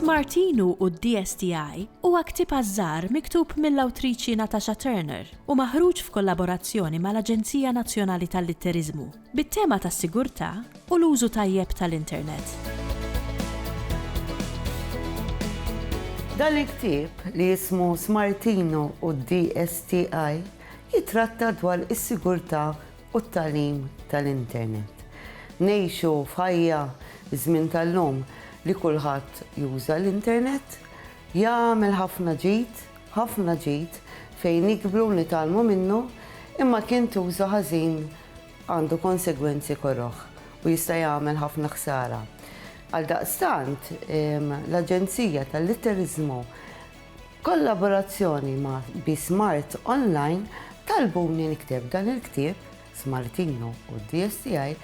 Smartinu u d-DSTI huwa ktieb għaż-żgħar miktub mill-awtriċi Natasha Turner u maħruġ f'kollaborazzjoni mal-Aġenzija Nazzjonali tal-Litteriżmu. bit-tema tas-sigurtà u l-użu tajjeb tal-internet. Dan il-ktieb, li jismu Smartino u d-DSTI, jittratta dwar is-sigurtà u t-tagħlim tal-internet. Ngħixu f'ħajja, fiż-żmien tal-lum, li kulħadd juża l-internet, jagħmel ħafna ġid, ħafna ġid, fejn nikbru u nitgħallmu minnu, imma kien tuża ħażin għandu konsegwenzi koroh u jista' jagħmel ħafna ħsara. Għaldaqstant, l-Aġenzija tal-Litteriżmu b'kollaborazzjoni ma' Be Smart Online talbuni nikteb dan il-ktieb Smartino u DSTI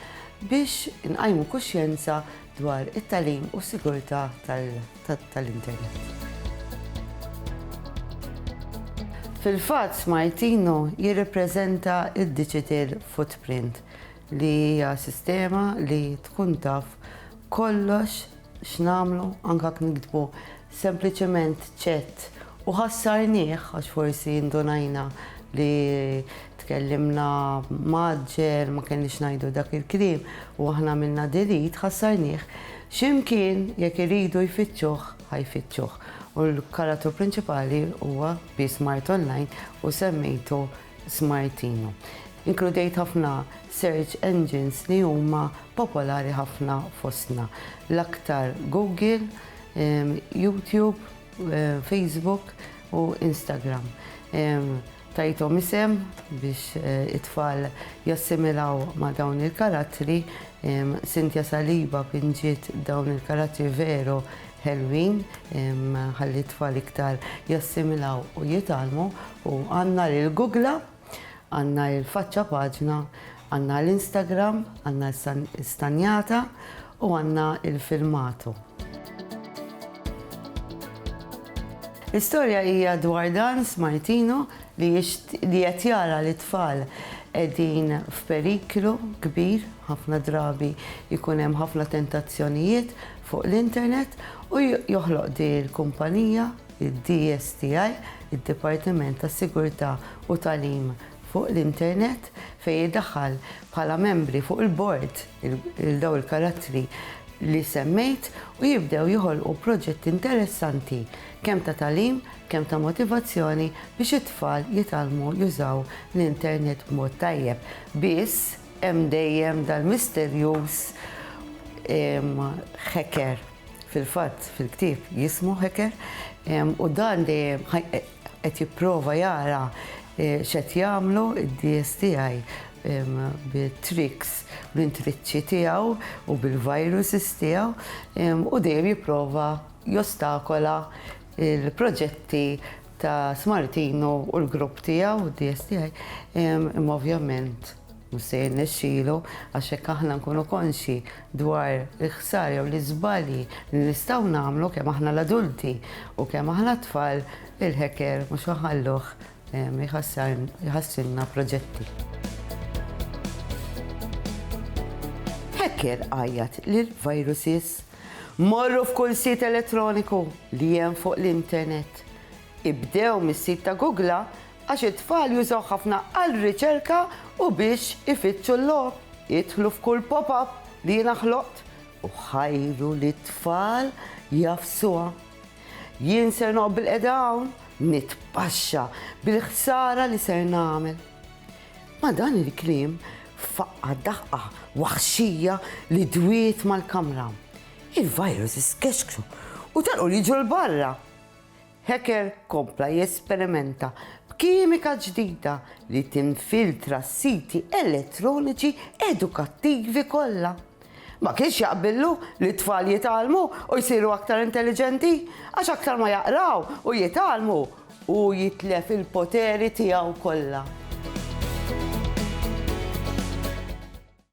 biex inqajmu kuxjenza dwar it-tagħlim u s-sigurtà tal- tal-internet. Fil-fatt Smartino jirrepreżenta d-digital footprint li hija sistema li tkun taf kollox x'nagħmlu anke jekk niktbu sempliċement ċett u ħassarnieh għax forsi ndunajna li Tkellimna mgħaġġel, ma kellniex ngħidu dak il-kliem u aħna għamilna delete, ħassarnih. X'imkien jekk iridu jfittxuh ħa jfittxuh. U l-karatru prinċipali huwa bsmart online u semmejtu Smartino. Inkludejt ħafna search engines li huma popolari ħafna fostna. L-aktar Google, YouTube, Facebook u Instagram. Tajthom isem biex it-tfal jassimilaw ma' dawn il-karattri. Cynthia Saliba pinġiet dawn il-karattri veru ħelwin ħalli t-tfal iktar jassimilaw u jitgħallmu u għandna lill-gugla, għandna l-faċċa paġna, Għandna l-Instagram, għandna l-istanjata u għandna l-filmatu. L-istorja hija dwar dan Smartino li qed jara li tfal qegħdin f'periklu kbir, ħafna drabi jkun hemm ħafna tentazzjonijiet fuq l-internet u joħloq di l-kumpanija id-DSTI, id-Dipartiment tas-Sigurtà u Talim fuq l-internet fejn idaħħal bħala membri fuq il-bord lil dawn il-karattri li semmejt u jibdew joħolqu proġetti interessanti kemm ta' tagħlim, kemm ta' motivazzjoni biex it-tfal jitgħallmu jużaw l-internet b'mod tajjeb. Biss hemm dejjem dal-misterjuż hacker. Fil-fatt fil-ktieb jismu hacker u dan dejjem Qed jipprova jara x'qed jagħmlu d-dies tiegħi bit-tricks, bl-intriċċi tiegħu u bil-viruses tiegħu u dejjem jipprova jostakola l-proġetti ta' Smartino u l-grupp tiegħu, d-dies tiegħi, imma ovvjament Mhux se jirnexxilu għax jekk aħna nkunu konxji dwar il-ħsara jew l-iżbalji li nistgħu nagħmlu kemm aħna l-adulti u kemm aħna t-tfal, il-hacker mhux ħa jħalluh jħassrilna proġetti. Hacker għajjat li l-viruses morru f'kull sit elettroniku li hemm fuq l-internet. Ibdew mis-sit ta' Googla għax it-tfal jużawh ħafna għal riċerka u biex ifittxu l-logħob. Idħlu f'kull pop-up li jiena ħloqt u ħajru lit-tfal jagħfsuha. Jien ser noqgħod bilqiegħda hawn nitpaxxa bil-ħsara li ser nagħmel. Ma' dan il-kliem faqqa' daħqa waħxija li dwiet mal-kamra. Il-virus skexkxu u telqu jiġru 'l barra. Hecker kompla jesperimenta b'kimika ġdida li tinfiltra s-siti elettroniċi edukattivi kollha. Ma kienx jaqbillu li t-tfal jitgħallmu u jsiru aktar intelliġenti, għax aktar ma jaqraw u jitgħallmu, hu jitlef il-poteri tiegħu kollha.